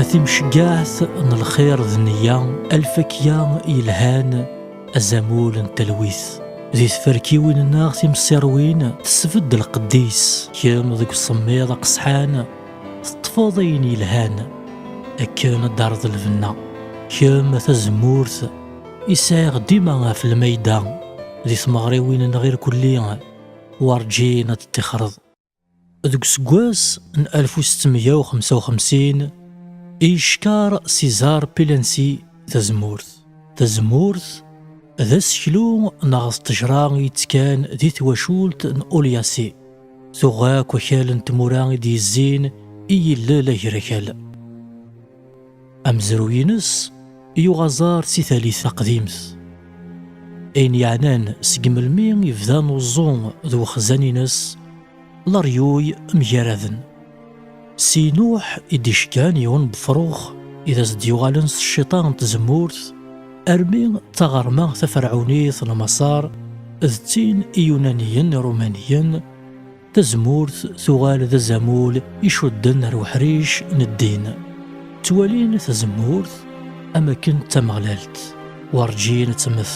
A timceggaɛt n lxir d neyya alfakya yelhan azamul n talwit di tferkiwin-nneɣ timsiṛwin tesbedd lqedd-is kemm deg usemmiḍ aqesḥan Teṭṭfeḍ ayen yelhan akken ad d-terreḍ lbenna. Kemm tazemmurt i sɛiɣ dima ɣef lmayda di tmeɣriwin-nneɣ irkelli werǧin ad d-tixreḍ. Deg useggas n alef u setti meyya u xemsa u xemsin i yeckeṛ César Pilency tazemmurt. Tazemmurt d aseklu neɣ d ṭṭejṛa i yettekkan di twacult n Olyase. Tuɣ akk akal n tmura i d-yezzin i yillel agrakal. Amezruy-ines yuɣ aẓar si talit taqdimt. Ayen yeɛnan seg melmi yebda uẓu d wexzan-ines, leryuy mgaraden. Si Nuḥ i d-iceggan yiwen n wefrux i d as-d-yuɣalen s cciṭa n tzemmurt, armi d taɣerma taferɛunit n Maṣer d tin iyunaniyen irumaniyen, tazemmurt tuɣal d azamul icudden ar uḥric n ddin. Ttwalin tazemmurt am akken d tameɣlalt, werǧin ad temmet.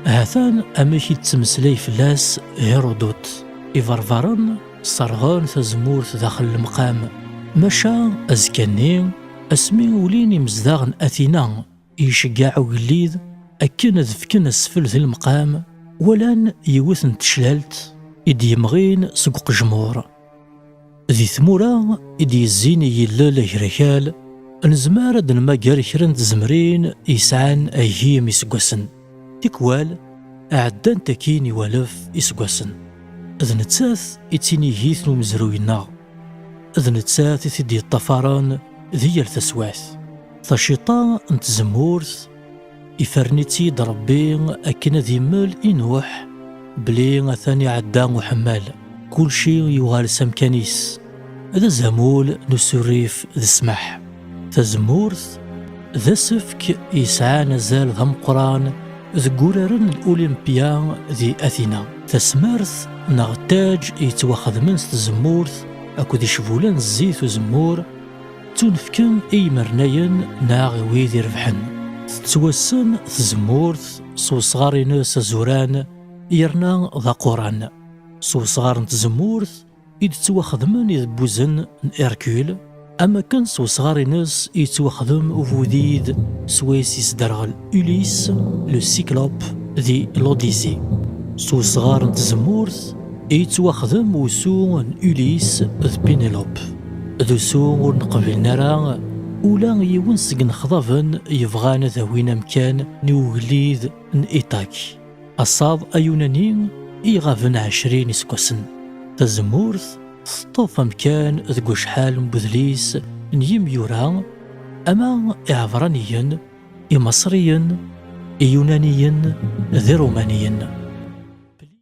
Hatan amek i d-ttmeslay fell-as Hirudut, Iberbaren, Sserɣen tazemmurt daxel lemqam, maca azekka-nni, asmi ulin imezdaɣ n Atina, iceggeɛ ugellid akken ad fken asfel di lemqam, walan yiwet n teclalt i d-yemɣin seg uqejmur. Di tmura i d-yezzin i yillel agrakal, nezmer ad d-nmager kra n tzemrin yesɛan agim iseggasen. Tikwal, ɛeddant akkin i walef iseggasen. D nettat i d tinigit n umezruy-nneɣ. D nettat i t-id-yeṭṭafaren di yal taswiɛt. Taciṭa n tzemmurt, ifren-itt-id Rebbi akken ad immel i Nuḥ belli atan iɛedda uḥemmal. Kulci yuɣal s amkan-is. d azamul n usurrif d ssmaḥ. Tazemmurt d asefk yesɛan azal d ameqqran deg uraren n Olympia di Athena. Tasmert neɣ ttaj yettwaxedmen s tzemmurt akked icbula n zzit uzemmur ttunefken i yimernayen neɣ i wid irebḥen. Tettwassen tzemmurt s wesɣar-ines azuran yerna d aquran. S wesɣar n tzemmurt i d-ttwaxedmen idebbuzen n Hercule, am wakken s wesɣar-nnes i yettwaxdem ubudid swayes yesderɣel Ulysse le Cyclope di L'Odyssée. S wesɣar n tzemmurt i yettwaxdem usu n Ulysse d Pénélope. d usu ur neqbilen ara ula yiwen seg nexḍaben yebɣan ad awin amkan n ugellid n Itak. Asaḍ ayunani i iɣaben ɛecrin iseggasen. Tazemmurt teṭṭef amkan deg wacḥal n udlis n yimyura ama iɛebraniyen, imaṣriyen, iyunaniyen d irumaniyen.